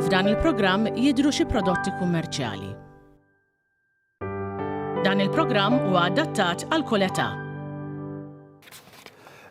F'dan il-programm jidhru xi prodotti kummerċjali. Dan il-programm huwa adattat għal kull età.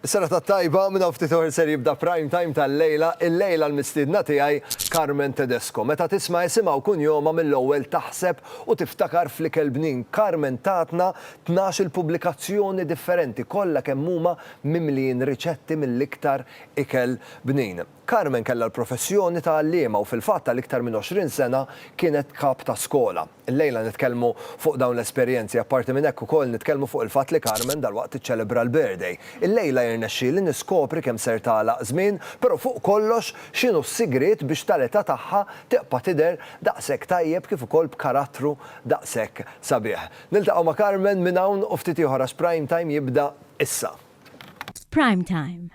Serata t-tajba, minn hawn ftit oħr ser jibda Prime Time tal-lejla, illejla l-mistiedna tiegħi Carmen Tedesco. Meta tisma' isimha u kunjomha mill-ewwel taħseb u tiftakar fl-ikel bnin. Carmen tatna tnax-il pubblikazzjoni differenti, kollha kemm huma mimlijin riċetti mill-iktar ikel bnin. Carmen kellha l-professjoni ta' għalliema u fil-fatt għal iktar minn għoxrin sena kienet kap ta' skola. Illejla nitkellmu fuq dawn l-esperjenzi, apparti minn hekk ukoll nitkellmu fuq il-fatt li Carmen dalwaqt tiċċelebra l-birthday. Illejla jirnexxieli niskopri kemm ser tagħlaq żmien, però fuq kollox x'inhu s-sigriet biex tal-età tagħha tibqa' tidher daqshekk tajjeb kif ukoll b'karattru daqshekk sabiħ. Niltaqgħu ma' Carmen minn hawn u ftit ieħor għax Prime Time jibda issa. F'Prime Time,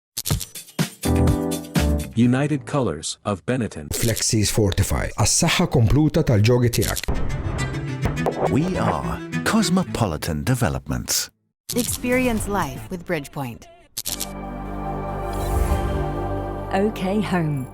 United Colors of Benetton. Flexis Fortify, għas-saħħa kompluta tal-ġogi tiegħek. We are Cosmopolitan Developments. Experience life with Bridgepoint. OK Home.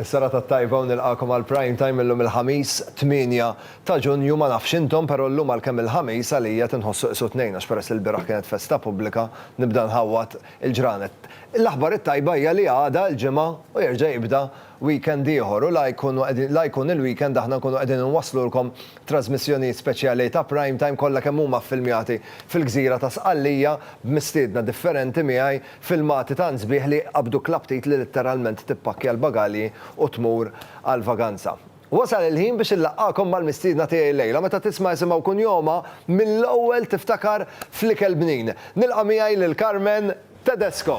Is-sara ta' tajba u nilqakom għal prime time illum il-ħamis 8 ta' ġunju ma nafx intom però llum għal kemm il-ħamis għalija tinħossu qisu tnejn għax peress li l-biraħ kienet festa pubblika nibda nħawwad il-ġranet. L-aħbar it-tajba hija li għada l-ġimgħa u jerġa' jibda weekend ieħor u la jkunu qegħdin la jkun il-weekend aħna nkunu qegħdin inwasslulkom trażmissjonijiet speċjali ta' Prime Time kollha kemm huma ffilmjati fil-gżira ta' Sqallija b'mistiedna differenti miegħi filmati tant sbieħ li jqabbduk l-aptit li litteralment tippakkja l-bagalji u tmur għall-vaganza. Wasal il-ħin biex inlaqqagħkom mal-mistiedna tiegħi llejla. Meta tisma' isimha u kunjomha, mill-ewwel tiftakar fl-ikel bnin. Nilqa' miegħi lil Carmen Tedesco.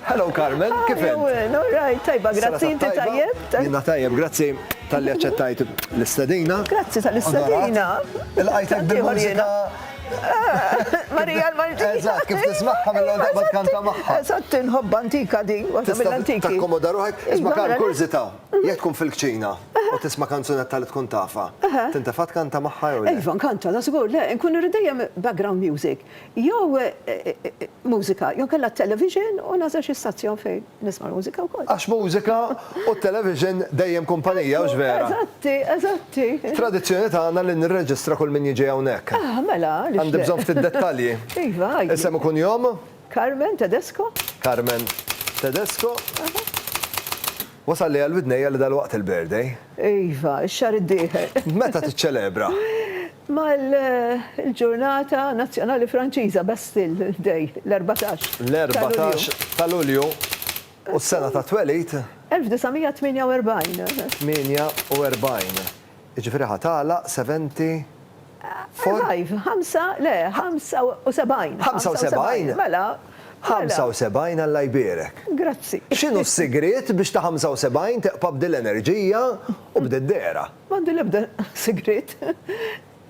Hello Carmen, kif int? How are you? All right, tajba, grazzi, inti tajjeb? Jiena tajjeb, grazzi talli aċċettajt l-istedina. Grazzi tal-istedina. Ilqajtek bil-mużika. Marija l-Maltija. Eżatt, kif tismagħha mill-ewwel darba tkanta magħha. Eżatt, inħobb antika din, waħda mill-antiki. Tista' takkomoda ruħek, isma' Karl, kurżità. Jekk tkun fil-kċina u tisma' kanzunetta li tkun tafha, tintefa' tkanta magħha jew le? Iva, nkanta, ta' żgur, le, nkun irrid dejjem background music. Jew mużika, jew kellha t-television u nagħżel xi stazzjon fejn nisma' l-mużika wkoll. Għax mużika u t-television dejjem kumpanija, hux vera? Eżatti, eżatti. Tradizzjoni tagħna li nirreġistra kull min jiġi hawnhekk. Ah, mela, għaliex le? Għandi bżonn ftit dettalji. Iva, għidli. Isem u kunjom? Carmen Tedesco. Carmen Tedesco. Wasalli għal widnejja li dalwaqt il-birthday. Iva, x-xahar id-dieħel. Meta tiċċelebra? Mal-ġurnata nazzjonali Franċiża, Bastille Day, l-erbatax. L-erbatax ta' Lulju. U s-sena tat-twelid? 1948. 48. Jiġifieri ħa tagħlaq 70 for? Arrive, ħamsa, le, 75. 75? Mela, mela. 75 Alla jbierek. Grazzi. X'inhu s-sigriet biex ta' 75 teqpa' b'dil enerġija u b'dil dehra? M'għandu l-ebda sigriet.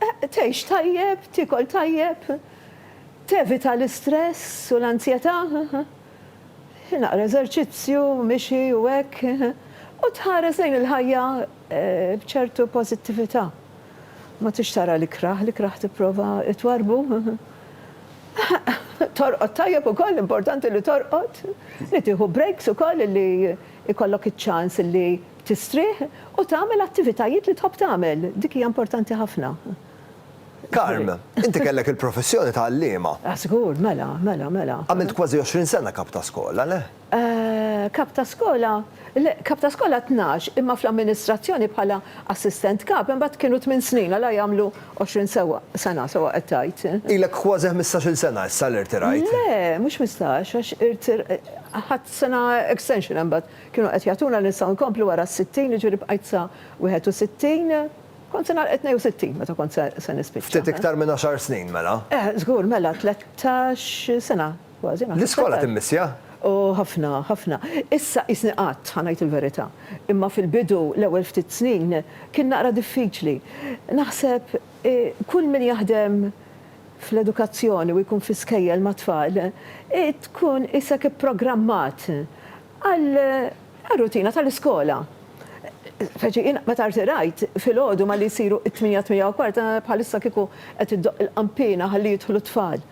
Tgħix tajjeb, tiekol tajjeb, tevita l-istress u l-anzjetà. Naqra eżerċizzju, mixi u hekk, u tħares lejn il-ħajja b'ċertu pożittività. Ma tridx tara l-ikrah, l-ikrah tipprova twarrbu. Torqod tajjeb ukoll, importanti li torqod, li tieħu breaks ukoll li jkollok iċ-ċans li tistrieħ u tagħmel attivitajiet li tħobb tagħmel, dik hija importanti ħafna. Carm, inti kellek il-professjoni ta' għalliema. Ah, żgur, mela, mela, mela. Għamilt kważi 20 sena kap ta' skola, le? Eh, kap ta' skola, le, kap ta' skola tnax, imma fl-amministrazzjoni bħala assistent kap, imbagħad kienu tmien snin, għala jagħmlu 20 sewwa, sena sewwa qed tgħid? Ilek kważi ħmistax-il sena issa li rtirajt. Le, mhux ħmistax, għax irtir, ħadt sena extension imbagħad. Kienu qed jagħtuna li nistgħu nkomplu wara s-sittin, jiġifieri bqajt sa 61, Kont se nagħlaq it-tnejn u sittin meta kont se nispiċċa. Ftit iktar minn għaxar snin mela? Eh, żgur, mela tlettax sena kważi naħseb. L-iskola timmissja? O, ħafna, ħafna. Issa qisni qgħadt, ħa ngħid il-verità. Imma fil-bidu, l-ewwel ftit snin, kien naqra diffiċli. Naħseb kull min jaħdem fl-edukazzjoni u jkun fi skejjel mat-tfal, tkun qisek ipprogrammat għar-rutina tal-iskola. Speċi jien meta rtirajt filgħodu malli jsiru t-tmienja, t-tmienja u kwart, bħalissa kieku qed iddoqq il-qanpiena ħalli jidħlu t-tfal.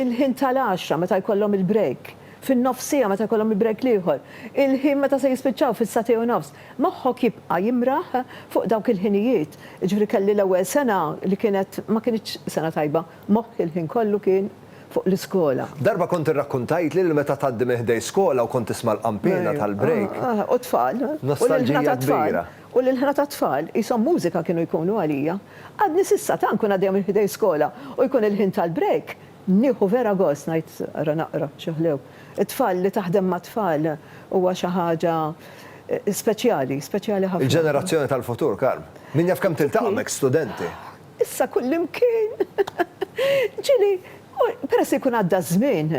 Il-ħin tal-għaxra meta jkollhom il-break, fin-nofs siegħa meta jkollhom il-break l-ieħor, il-ħin meta se jispiċċaw fis-sagħtej u nofs, moħħok jibqa' jimraħ fuq dawk il-ħinijiet. Jiġifieri kelli l-ewwel sena li kienet ma kinitx sena tajba. Moħħi l-ħin kollu kien fuq l-iskola. Darba kont irrakkuntajtli li meta tgħaddi minn ħdejn skola u kont tisma' l-qanpiena tal-break. U t-tfal. Nostalġija kbira. U l-ilħna tat-tfal, qishom mużika kienu jkunu għalija. Għadni s'issa tant nkun għaddejja minn ħdejn skola u jkun il-ħin tal-break, nieħu vera gost ngħid ara naqra xi ħlew. It-tfal, li taħdem mat-tfal huwa xi ħaġa speċjali, speċjali ħafna. Il-ġenerazzjoni tal-futur, Carm. Min jaf kemm tiltaqa' m'hekk studenti. Issa kullimkien. Ġieli, peress li jkun għadda ż-żmien,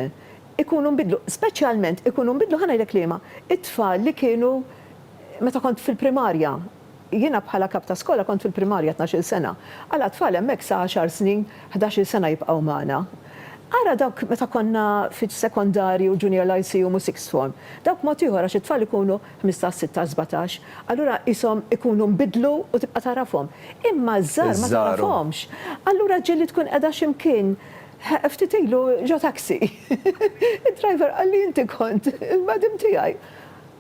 ikunu nbidlu. Speċjalment ikunu nbidlu, ħa ngħidlek liema, it-tfal li kienu meta kont fil-primarja. Jiena bħala kap ta' skola kont fil-primarja tnax-il sena. Għala t-tfal hemmhekk sa għaxar snin, ħdax-il sena jibqgħu magħna. Ara dawk meta konna fiċ-sekondarji u junior l-ICU mhu sixth form. Dawk mod ieħor għax it-tfal ikunu 15, 16, 17, allura qishom ikunu nbidlu u tibqa' tagħrafhom. Imma ż-żgħar ma tagħrafhomx. Allura ġieli tkun qiegħda xi mkien, ftit ilu ġo taxi, id-driver qalli inti kont il-madam tiegħi.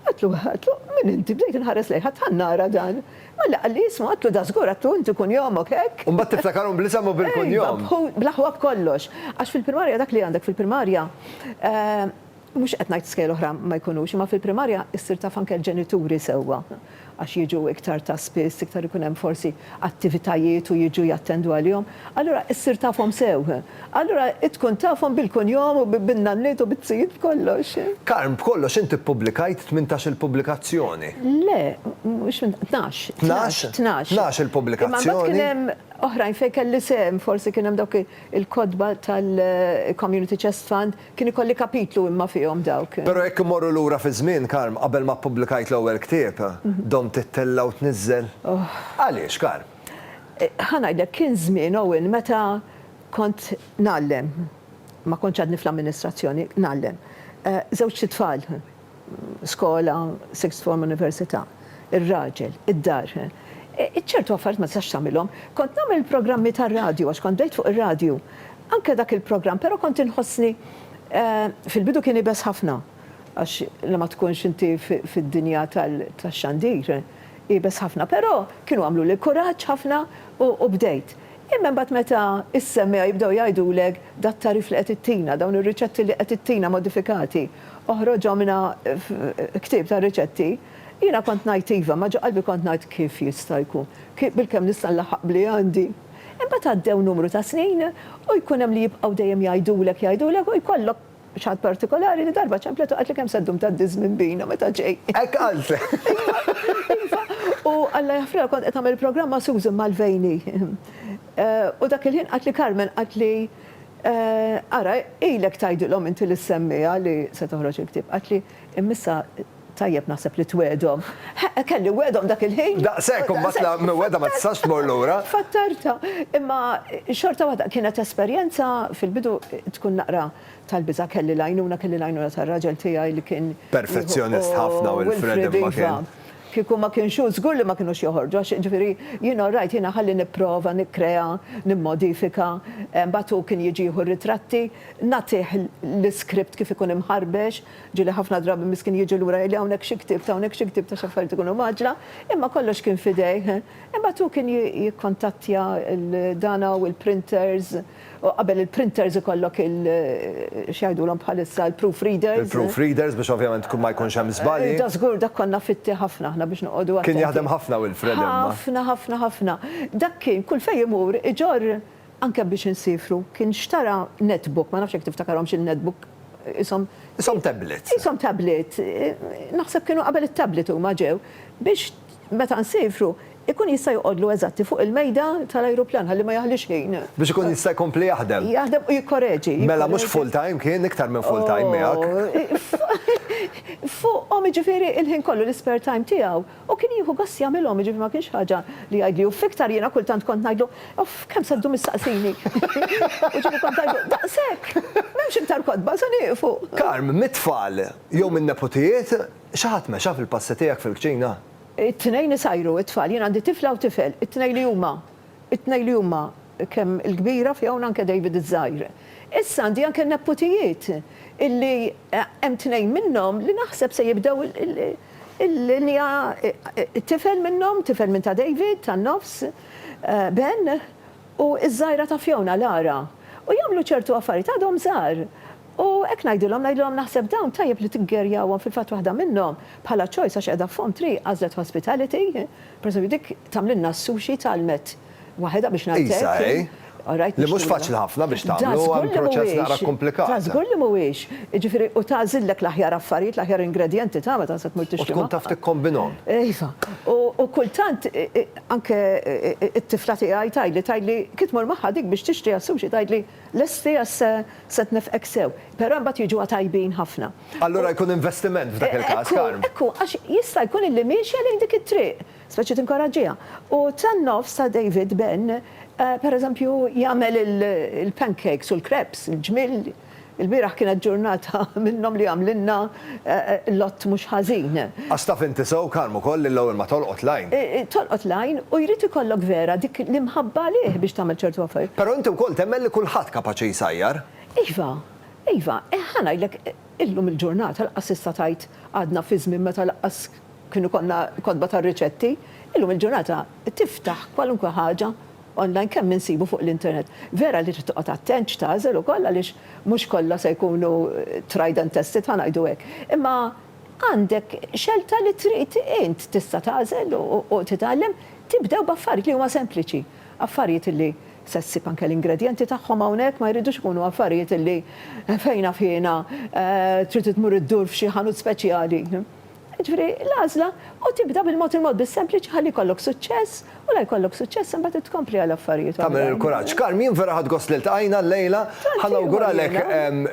Għedtlu, għedtlu, min inti? Bdejt inħares lejha, għad tant nara dan. Malli qalli ismu, għedtlu dażgur, għedtlu inti kunjomok hekk. U mbagħad tiftakarhom bl-isem u bil-kunjom. Iva, bl-aħwa b'kollox. Għax fil-primarja dak li għandek fil-primarja, Mhux qed ngħid skejjel oħra ma jkunux, imma fil-primarja ssir taf anke l-ġenituri sewwa għax jiġu iktar ta' spiss, iktar ikun hemm forsi attivitajiet u jiġu jattendu għalihom. Allura ssir tafhom sew. Allura tkun tafhom bil-kunjom u bin-nanniet u biz-zijiet b'kollox. Carm, b'kollox inti ppubblikajt tmintax-il pubblikazzjoni. Le, mhux tnax. Tnax? Tnax. Tnax il-pubblikazzjoni. Imma mbagħad kien hemm oħrajn fejn kelli sehem, forsi kien hemm dawk il-kotba tal-Community Chest Fund, Kien ikolli kapitlu imma fihom dawk. Però jekk immorru lura fiż-żmien, Carm, qabel ma ppublikajt l-ewwel ktieb, domt tittella' u tniżżel? Għaliex, Carm? Ħa ngħidlek, kien żmien, Owen, meta kont ngħallem. Ma kontx għadni fl-amministrazzjoni, ngħallem. Żewġt itfal. skola, sixth form, università, ir-raġel, id-dar. Ċertu affarijiet ma tistax tagħmilhom. Kont nagħmel il-programmi tar-radju għax kont bdejt fuq ir-radju. Anke dak il-programm, però kont inħossni fil-bidu kien iebes ħafna għax li ma tkunx inti fid-dinja tax-xandir iebes ħafna, però kienu għamluli kuraġġ ħafna u bdejt. Imma imbagħad meta s-semmiegħa jibdew jgħidulek dat-tagħrif li qed ittina, dawn ir-riċetti li qed ittina modifikati, oħroġhom na ktieb ta' riċetti, jiena kont ngħid iva, imma ġo qalbi kont ngħid kif jista' jkun, bilkemm nista' nlaħħaq b'li għandi. Imbagħad għaddew numru ta' snin u jkun hemm li jibqgħu dejjem jgħidulek, jgħidulek u jkollok, X'ħadt partikolari li darba ċemplet u qaltli kemm se ddum tgħaddi żmien bina meta ġej. Hekk qalt! Iva, u Alla jaħfrilha kont qed nagħmel il-programm ma' Susan Mulvaney. U dak il-ħin qaltli Carmen qaltli, Ara, ilek tgħidilhom inti lis-semmiegħa li se toħroġ il-ktieb. Qaltli, Imma issa, Tajjeb naħseb li twiegħdhom. Heqq, kelli wegħdhom dak il-ħin! Daqshekk u mbagħad la miwegħda ma tistax tmur lura. Fattartha. Imma xorta waħda kienet esperjenza fil-bidu tkun naqra tal-biża'. Kelli l-għajnuna, kelli l-għajnuna tar-raġel tiegħi li kien jieħu. Perfezzjonist ħafna Wilfred imma kien. Kieku ma kienx hu żgur li ma kinux joħorġu għax jiġifieri jien all right, jiena ħalli nipprova nikkrea, nimmodifika, mbagħad hu kien jiġi jieħu r-ritratti, nagħtih l-iskript kif ikun imħarbex, Ġieli ħafna drabi miskin jiġi lura jgħidli hawnhekk xi ktibt, hawnhekk xi ktibt għax affarijiet ikunu mgħaġġla, imma kollox kien f'idejh. Imbagħad hu kien jikkontattja lil dana u l-printers, u qabel il-printers ikollok il, x'jgħidulhom bħalissa, il-proof readers. Il-proof readers biex ovvjament ma jkunx hemm żbalji. Da żgur dak konna fitti ħafna aħna biex noqogħdu attenti. Kien jaħdem ħafna Wilfred imma. Ħafna, ħafna, ħafna. Dak kien kull fejn imur iġorr Anke biex insifru. Kien xtara netbook, ma nafx jekk tiftakarhomx il-netbook, ishom. Ishom tablets. Ishom tablet. Naħseb kienu qabel it-tablet huma ġew. Biex meta nsifru, ikun jista' joqgħodlu eżatti fuq il-mejda tal-ajruplan ħalli ma jaħlix ħin. Biex ikun jista' jkompli jaħdem. Jaħdem u jikkoreġi. Mela mhux full time kien, iktar minn full time miegħek. Fuqhom jiġifieri l-ħin kollu, l-ispare time tiegħu. U kien jieħu gost jagħmilhom, jiġifieri ma kienx ħaġa li jgħidli uff iktar, jiena kultant kont ngħidlu, uff kemm se ddum issaqsini. U ġieli kont ngħidlu, daqshekk! M'hemmx iktar kotba, se nieqfu. Carm, mit-tfal jew min-neputijiet, xi ħadd mexa fil-passi tiegħek fil-kċina? It-tnejn isajru t-tfal, jien għandi tifla u tifel, it-tnejn li huma It-tnejn li huma kemm il-kbira fija u anke David iż-żgħir. Issa għandi anke neputijiet illi hemm tnejn minnhom li naħseb se jibdew il-linja tifel minnhom, tifel minn ta' David tan-nofs, Ben, u ż-żgħira ta' Fiona, Lara. U jagħmlu ċertu affarijiet, għadhom żgħar. U hekk ngħidilhom, ngħidilhom naħseb dawn tajjeb li tiggerjawhom, fil-fatt waħda minnhom bħala choice għax qiegħda f'fomm triq għażlet hospitality, Pereżempju dik tagħmlilna s-sushi tgħallmet waħedha biex ngħid hekk. Qisha hi. All right. Li mhux faċli ħafna biex tagħmlu, hemm proċess naqra kkumplikat. Ta' żgur li mhuwiex. Jiġifieri u tagħżillek l-aħjar affarijiet, l-aħjar ingredjenti ta' meta se tmur tixtri. U tkun taf tikkombinhom. Iva. U kultant anke t-tifla tiegħi tgħidli, tgħidli kif tmur magħha dik biex tixtri għas-sushi tgħidli, L-STS se tnefqek sew, però imbagħad jiġuha tajbin ħafna. Allura jkun investiment f'dak il-każ, Karm. Ekku, ekku, għax jista' jkun illi miexja lejn dik it-triq, speċi tinkoraġġiha. U tan-nofs ta' David Ben, pereżempju, jagħmel il-pancakes u l-crepes, il-ġmiel, ilbieraħ kienet ġurnata minnhom li għamlilna. Lott mhux ħażin. Għax taf inti sew, Karm, ukoll li l-ewwel ma tolqot l-għajn. Tolqot l-għajn u jrid ikollok vera dik l-imħabba għalih biex tagħmel ċertu affarijiet. Però inti wkoll temmen li kulħadd kapaċi jsajjar. Iva, iva. Ħa ngħidlek, illum il-ġurnata lanqas issa tgħid għadna fi żmien meta lanqas kien ikollna kotba tar-riċetti. Illum il-ġurnata tiftaħ kwalunkwe ħaġa. online kemm insibu fuq l-internet. Vera li trid toqgħod attent x'tagħżel ukoll għaliex mhux kollha se jkunu tried and tested ħa ngħidu hekk. Imma għandek xelta li trid int tista' tagħżel u titgħallem. Tibdew b'affarijiet li huma sempliċi. Affarijiet li se ssib anke l-ingredjenti tagħhom hawnhekk ma jridux ikunu affarijiet li fejn naf jiena trid tmur iddur f'xi ħanut speċjali. Jiġifieri, l-għażla, u tibda bil-mod il-mod bis-sempliċi ħalli jkollok suċċess, u la jkollok suċċess imbagħad tkompli għal affarijiet oħrajn. Tagħmel il-kuraġġ. Carm, jien vera ħadt gost li ltqajna llejla. Ħa nawguralek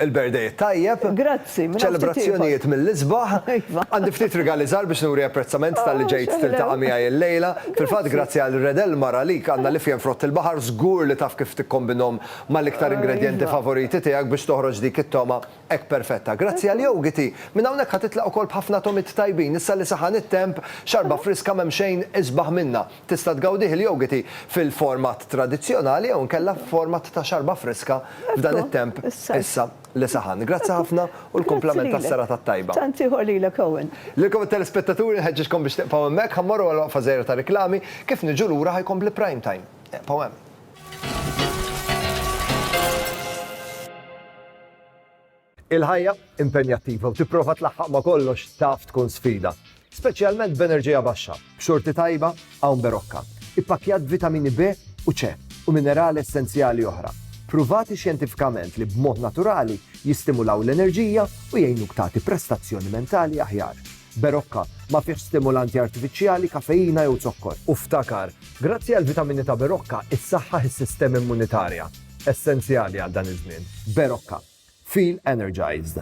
il-birthday it-tajjeb. Grazzi, minn hawn ftit ieħor. Ċelebrazzjonijiet mill-isbaħ. Iva. Għandi ftit rigali żgħar biex nuri apprezzament talli ġejt tiltaqa' miegħi llejla. Fil-fatt, grazzi għal Red Elmar, għalik għandna l-ifjen frott il-baħar, żgur li taf kif tikkombinhom mal-iktar ingredjenti favoriti tiegħek biex toħroġ dik it-togħma Hekk perfetta. Grazzi għal jogiti. Minn hawnhekk ħa titlaq ukoll b'ħafna togħmiet tajbin. Issa li saħan it-temp, xarba friska m'hemm xejn isbaħ minnha. Tista' tgawdih il-jogiti fil-format tradizzjonali jew inkella f'format ta' xarba friska f'dan it-temp issa li saħan. Grazzi ħafna u l-kumplament għas-serata t-tajba. Grazzi lilek. Tant ieħor lilek Owen. Lilkom it-telespettaturi nħeġġiġkom biex tibqgħu hemmhekk. Ħa mmorru għal waqfa żgħira ta' riklami. Kif niġu lura ħa jkompli Prime Time. Ibqgħu hemm. Il-ħajja impenjattiva u tipprova tlaħħaq ma' kollox taf tkun sfida, speċjalment b'enerġija baxxa, b'xorti tajba hawn berokka, ippakkjat b'vitamini B u C u minerali essenzjali oħra, pruvati xjentifikament li b'mod naturali jistimulaw l-enerġija u jgħinuk tagħti prestazzjoni mentali aħjar. Berocca, ma fihx stimulanti artifiċjali, kafeina jew zokkor. U ftakar, grazzi għall-vitamini ta' Berocca issaħħaħ is-sistema immunitarja, essenzjali għal dan iż-żmien. Berocca. Feel energized.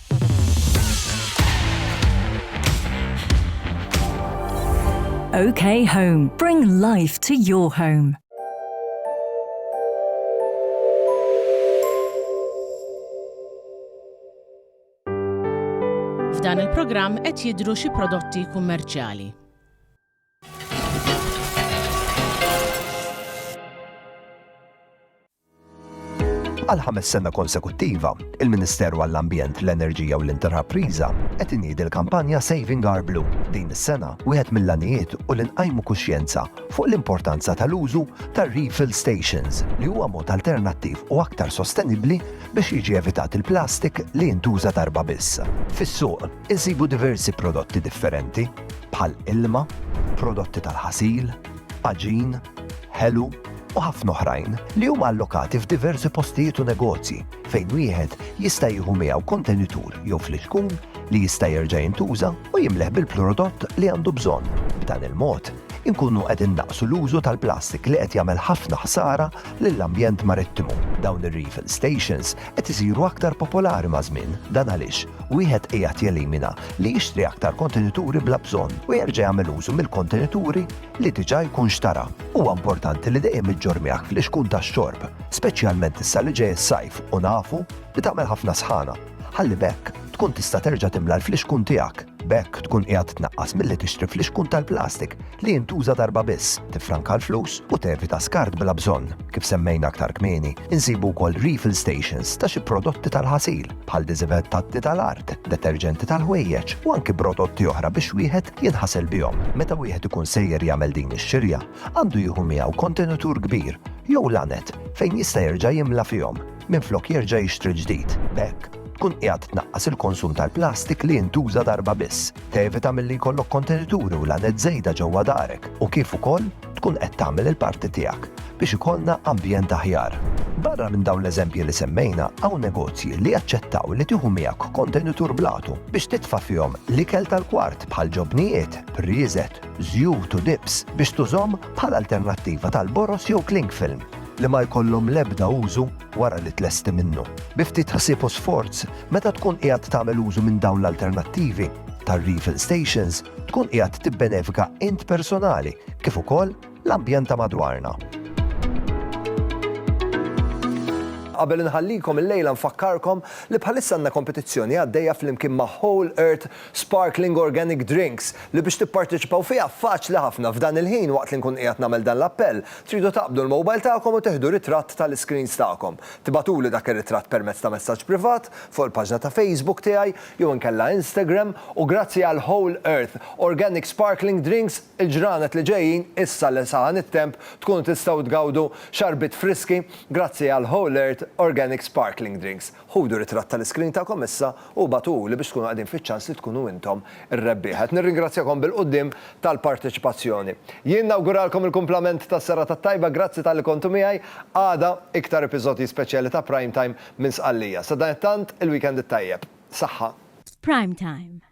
OK Home. Bring life to your home. F'dan il-programm qed jidru xi prodotti kummerċjali. Għal ħames sena konsekuttiva, il-Ministeru għall-Ambjent, l-Enerġija u l-Intrapriża qed iniedi l-kampanja Saving Our Blue. Din is-sena, wieħed mill-għanijiet hu li nqajmu kuxjenza fuq l-importanza tal-użu tar-refill stations li huwa mod alternattiv u aktar sostenibbli biex jiġi evitat il-plastik li jintuża darba biss. Fis-suq, insibu diversi prodotti differenti, bħal ilma, prodotti tal-ħasil, għaġin, ħelu u ħafna oħrajn li huma allokati f'diversi postijiet u negozji fejn wieħed jista' jieħu miegħu kontenitur jew fliċkun li jista' jerġa' jintuża u jimleħ bil-prodott li għandu bżonn. B'dan il-mod, inkunu qed innaqsu l-użu tal-plastik li qed jagħmel ħafna ħsara lill-ambjent marittimu. Dawn ir-refill stations qed isiru aktar popolari maż-żmien. Dan għaliex wieħed qiegħed jelimina li jixtri aktar kontenituri bla bżonn u jerġa' jagħmel użu mill-kontenituri li diġà jkun xtara. Huwa importanti li dejjem iġġorr miegħek fl-ixkun tax-xorb, speċjalment issa li ġej is-sajf u nafu li tagħmel ħafna sħana, ħalli b'hekk tkun tista' terġa' timla l-fliexkun tiegħek. B'hekk tkun qiegħed tnaqqas milli tixtri flixkun tal-plastik li jintuża darba biss, tiffranka l-flus u tevita skart bla bżonn. Kif semmejna aktar kmieni, insibu wkoll refill stations ta' xi prodotti tal-ħasil bħal diżivettanti tal-art, deterġenti tal-ħwejjeġ u anki prodotti oħra biex wieħed jinħasel bihom. Meta wieħed ikun sejjer jagħmel din ix-xirja, għandu jieħu miegħu kontenitur kbir jew laned fejn jista' jerġa' jimla fihom. minflok jerġa' jixtri l-ġdid. B'hekk, tkun qiegħed tnaqqas il-konsum tal-plastik li jintuża darba biss, tevita milli jkollok kontenituri u l-għanet żejda ġewwa darek u kif ukoll tkun qed tagħmel il-parti tiegħek biex ikollna ambjent aħjar. Barra minn dawn l-eżempji li semmejna, hawn negozji li jaċċettaw li tieħu miegħek kontenitur bl-għatu biex titfa' fihom l-ikel tal-kwart bħal ġobnijiet, prieżet, żjut u dips biex tużhom bħala alternattiva tal-boroż jew cling film. li ma jkollhom l-ebda użu wara li tlesti minnu. Bi ftit ħsieb u sforz, meta tkun qiegħed tagħmel użu minn dawn l-alternattivi tar-refill stations, tkun qiegħed tibbenefika int personali kif ukoll l-ambjent ta' madwarna. Qabel inħallikom illejla nfakkarkom li bħalissa għandna kompetizzjoni għaddejja flimkien ma' Whole Earth Sparkling Organic Drinks, li biex tipparteċipaw fiha faċli ħafna f'dan il-ħin waqt li nkun qiegħed nagħmel dan l-appell, tridu taqbdu l-mobile tagħkom u teħdu ritratt tal-iscreens tagħkom. Tibagħtuli dak ir-ritratt permezz ta' messaġġ privat fuq il-paġna ta' Facebook tiegħi jew inkella Instagram u grazzi għal Whole Earth Organic Sparkling Drinks il-ġranet li ġejjin issa li saħan it-temp tkunu tistgħu tgawdu xarbiet friski grazzi għal Whole Earth Organic Sparkling Drinks. Ħudu ritratt tal-iskrin tagħkom issa u ibagħtuhuli biex tkunu qegħdin fiċ-ċans li tkunu intom ir-rebbieħa. Qed nirringrazzjakom bil-quddiem tal-parteċipazzjoni. Jien nawguralkom il-kumplament ta' serata t-tajba, grazzi talli kontu miegħi. Għada, iktar episodji speċjali ta' Prime Time minn Sqallija. Sadanittant, il-weekend it-tajjeb. Saħħa. F'Prime Time,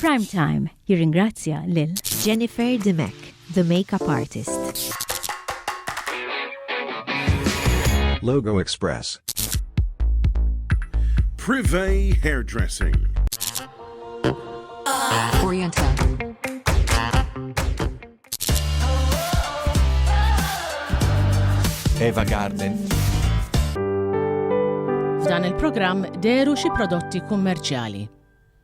Prime Time jirringrazzja lil Jennifer Dimech, the makeup artist. Logo Express. Privé Hairdressing. Oriental. Eva Garden. F'dan il-programm deru xi prodotti kummerċjali.